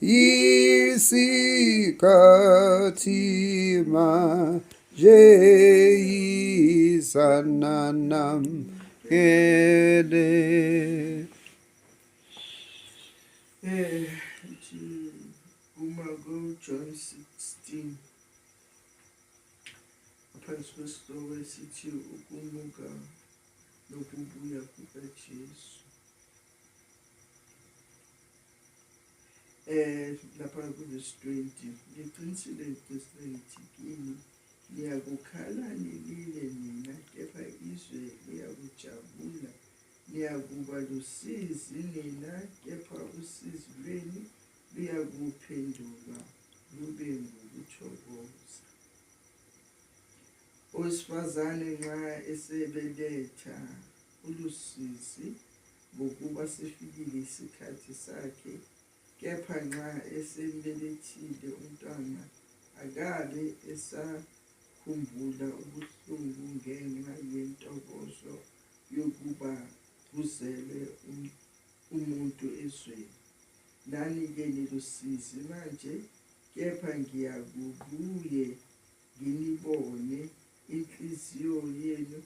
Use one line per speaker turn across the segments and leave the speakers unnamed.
isikhathi manje izananamkele
eh uma ku John 16 phansi kwesihloko esithi ukumuka nokubuya kukaJesu eh lapha kunesitwenti ngiqinisile ngiqinisile ngithi kini niyakukhala nilile nina kepha izwe liyakujabula niyakuba lusizi nina kepha usizi lwenu luyakuphendulwa lube ngokuthokoza owesifazane nxa esebeletha ulusizi ngokuba sifikile isikhathi sakhe, kepha nxa esembelethile umntwana akabe esakhumbula ubuhlungu ngenxa yentokozo yokuba kuzelwe um-, umuntu ezweni. Nani-ke nilusizi manje, kepha ngiyakubuye nginibone inhliziyo yenu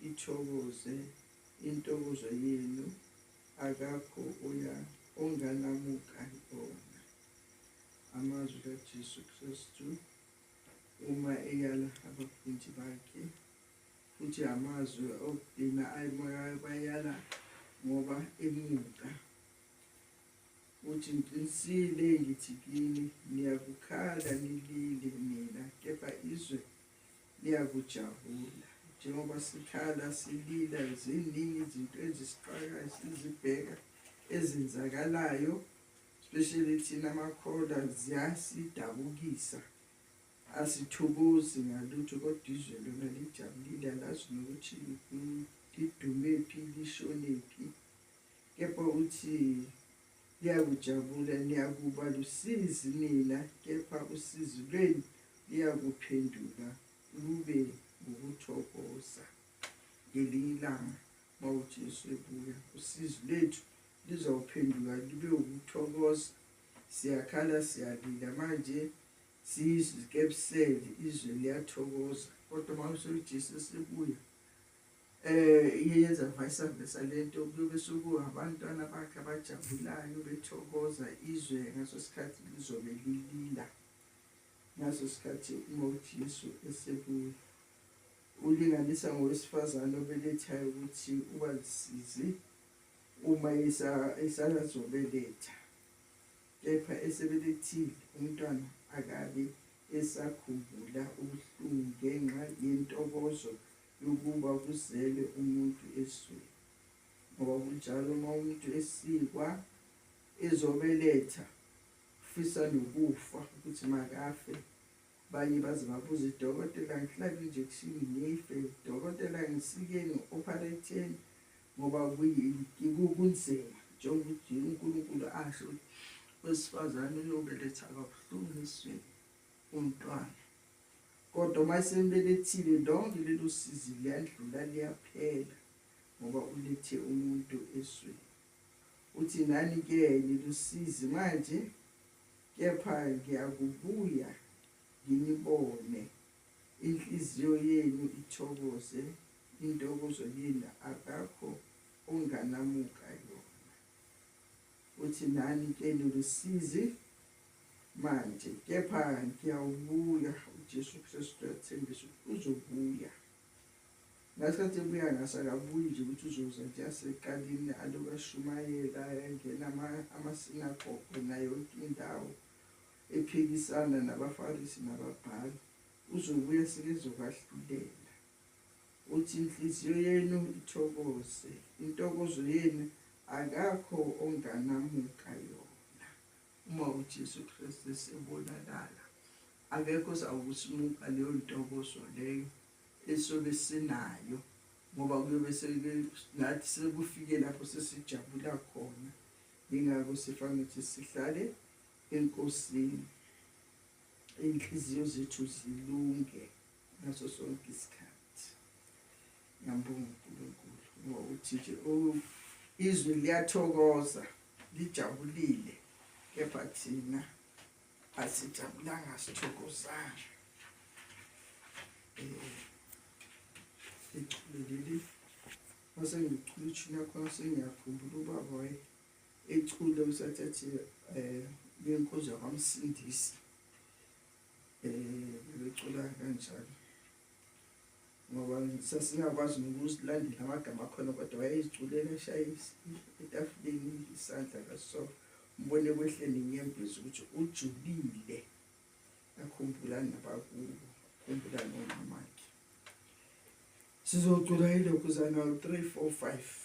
ithokoze Intokozo yenu akakho uya onganamuka ibona amazwi kaJesu Kristu uma eyala abafundi bakhe futhi amazwi okugcina ayebayala ngoba emuka uthi ngiqinisile ngithi kini niyakukhala nilile nina kepha izwe liyakujabula njengoba sikhala silila ziningi izinto ezisixakayo sizibheka ezenzakalayo especially thina amakhola ziyasidabukisa asithokozi ngalutho kodwa izwe lona lijabulile alazi nokuthi lidumephi lishonephi kepha uthi Liyakujabula niyakuba lusizi nina kepha usizi lwenu liyakuphenduka lube ngokuthokoza ngelinye ilanga uma uJesu ebuya usizi lwethu lizawuphenduka lube ukuthokoza siyakhala siyalila manje sizikebusele izwe liyathokoza kodwa uma useJesu esebuya Eh iye yenza vayisambhe salento kuyobe suku abantwana bakhe abajabulayo bethokoza izwe ngaso sikhathi lizobe lilila ngaso sikhathi uma uthi Yesu esebuya ulinganisa ngowesifazane obelethayo ukuthi ubazisize uma esalazobeletha kepha esebelethile umntwana akabe esakhumbula ubuhlungu ngenxa yentokozo yokuba kuzelwe umuntu ezweni ngoba kunjalo uma umuntu esikwa ezobeletha ufisa nokufa ukuthi makafe abanye baze babuze idokotela ngihlabe injekshini ngife dokotela ngisikeni ngi-opharetheni ngoba kunzima njengokuthi unkulunkulu asho ukuthi wesifazane uyobeletha kabuhlungu esweni umntwana Kodwa uma esembelethile lonke lelo sizi liyadlula liyaphela ngoba ulethe umuntu esweni. Uthi nani ke nilusizi manje kepha ngiyakubuya nginibone inhliziyo yenu ithokoze intokozo yenu akakho onganamuka yona. Uthi nani ke nilusizi manje, kepha ngiyawubuya. UJesu Kristu uyathembisa ukuthi uzobuya. Ngasikhathi ebuya ngaso akabuyi nje ukuthi uzoza nje aseqalini aloku ashumayela engena amasinagogo nayo yonke indawo ephikisana nabafarisi nababhali uzobuya sekezokwahlulela uthi inhliziyo yenu ithokoze intokozo yenu akakho onganamuka yona uma uJesu Kristu esebonakala akekho ozawukusimuka leyo ntokozo leyo esobe sinayo ngoba kuyobe nathi sekufike lapho sesijabula khona yingakho sifanele ukuthi sihlale enkosini iy'nhliziyo zethu zilunge ngaso sonke isikhathi Ngiyambonga uNkulunkulu ngokuthi nje oh, izwi liyathokoza lijabulile kepha thina asijabulanga sithokozanga ichuleleli mase ngichula ishini yakhona sengiyakhumbula ubaba waye echule usathi athi um eh, benkozi yakwamsindisi um eh, bebecula kanjalo ngoba sasingakwazi nokuzilandela amagama akhona kodwa wayeziculela eshaye etafuleni isandla kaso mbone kwehleni inyembezi ukuthi ujulile akhumbula nabakubo akhumbula nomamakhe sizocula ilokhu zana 3 4 5